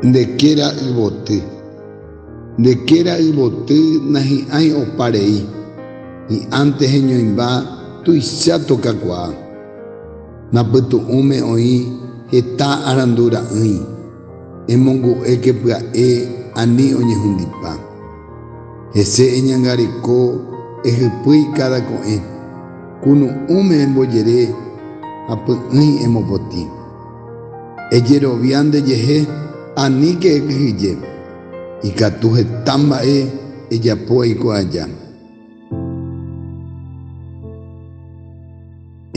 Nde kéra yvoty. Nde kéra yvoty nahi'ãi opa rei, hi'ãnte heñoĩmba tuicha tokakuaa. Napytu'ũme oĩ heta arandu ra'ỹi, emongu'éke pya'e ani oñehundipa. Hese eñangareko ehypýi káda ko'ẽ. Kunu'ũme embojere ha py'ỹi emopotĩ. Ejerovia ndejehe aníke ekyhyje, ikatu heta mba'e ejapo eiko aja.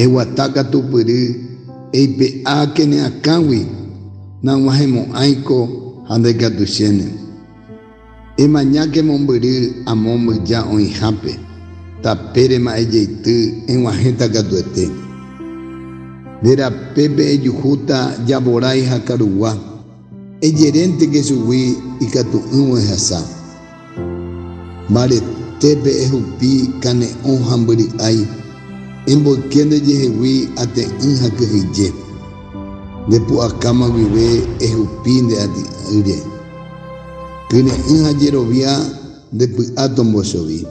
Eguata katupyry eipe'a kene akãgui, nag̃uahẽmo'ãiko ha ndaikatuichéne. Emañáke mombyry amo mbyja oĩhápe, tape rema'ẽ jeity eg̃uahẽta katuete. Nde rapépe ejuhúta javorái ha karugua, ejerénte ke chugui ikatu'ỹvo ehasa. Mbaretépe ehupi kane'õ ha mbyry'ái, emboyke nde jehegui ate'ỹ ha kyhyje. Nde pu'akáma guive ehupi nde aty'ỹre. Kyre'ỹ ha jerovia nde py'a tombojovi.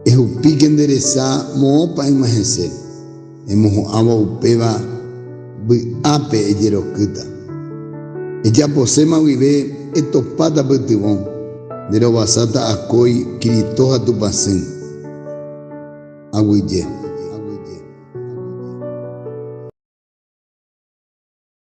Ehupíke nde resa moõpa yma hese, emoho'ãvo upéva vy'ápe ejerokýta. Ejaposéma guive etopáta pytyvõ, nde rovasáta akói Cristo ha Tupãsỹ. Aguyje.